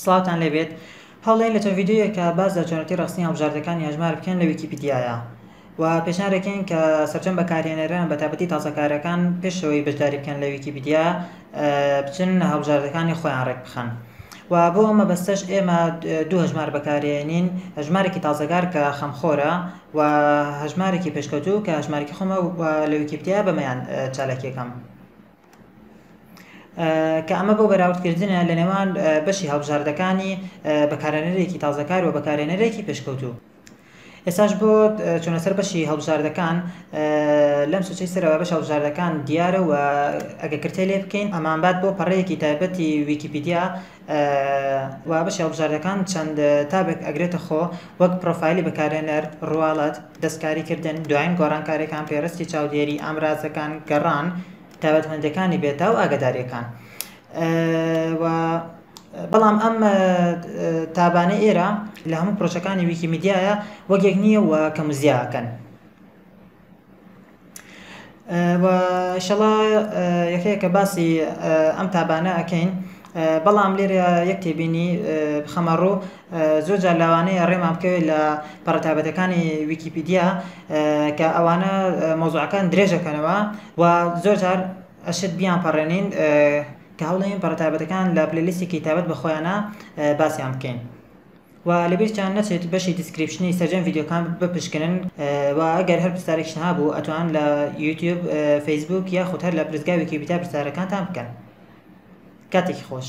سڵاوتان لێ بێت هەوڵێن لە چەند ڤیدیۆیەکە باس لە چۆنێتی ڕەخسنی هەڵبژاردەکانی هەژمار بکەن لە ویکیپیدیایە و پێشنیار دەکەین کە سەرجەم بەکارهێنەران بە تایبەتی تازەکارەکان پێش ئەوەی بەشداری بکەن لە ویکیپیدیا بچن هەڵبژاردەکانی خۆیان ڕێک بخەن و بۆ ئەو مەبەستەش ئێمە دوو هەژمار بەکارێنین هەژمارێکی تازەگار کە خەمخۆرە و هەژمارێکی پێشکەوتوو کە هەژمارێکی خۆمە و لە ویکیپیدیا بەمەیان چالاکیەکەم کە ئەمە بۆ بەراوردکردنە لە نێوان بەشی هەڵبژاردەکانی بەکارێنەرێکی تازەکار و بەکارێنەرێکی پێشکەوتوو ئێساش بۆ چۆنە سەر بەشی هەڵبژاردەکان لەم سوچەی سەرەوە بەش هەڵبژاردەکان دیارە و ئەگە کرتێ لێ بکەین ئەمانبات بۆ پەڕەیەکی تایبەتی ویکیپیدیا و بەشی هەڵبژاردەکان چەند تابێک ئەگرێتە خۆ وەک پڕۆفایلی بەکارهێنەر، ڕواڵەت، دەستکاریکردن، دوایین گۆڕانکارییەکان، پێڕستی چاودێری، ئامرازەکان، گەڕان، تایبەتمەندییەکانی بێتا و ئاگادارییەکان. و بەڵام ئەم تابانەی ئێرە لە هەموو پڕۆژەکانی ویکیمیدیایە وەک یەک نییە و کەم و زیادن. و ئیشەڵا یەکە یەکە باسی ئەم تابانە ئەکەین بەڵام لێرە یەک تێبینی بخەمە ڕوو زۆر جار لەوانەیە ڕێمان بکەوێت لە پەڕە تابەتەکانی ویکیپیدیا کە ئەوانە مۆزوعەکان درێژەکەنەوە و زۆر جار ئەشت بیان پەڕێنین کە هەوڵێن پەڕە تابەتەکان لە پلەلیستێکی تابەت بە خۆیانە باسیان بکەین. و لەبیرتان نەچێت بەشی دیسکریپشنی سەرجەم ڤیدیۆکان بپشکنن و ئەگەر هەر پرسیارێکشتان هەبوو ئەتوان لە یوتیوب فەیسبووک یاخود هەر لە پرسگا ویکیپیدیا پرسیارەکانتان بکەن کاتێکی خۆش.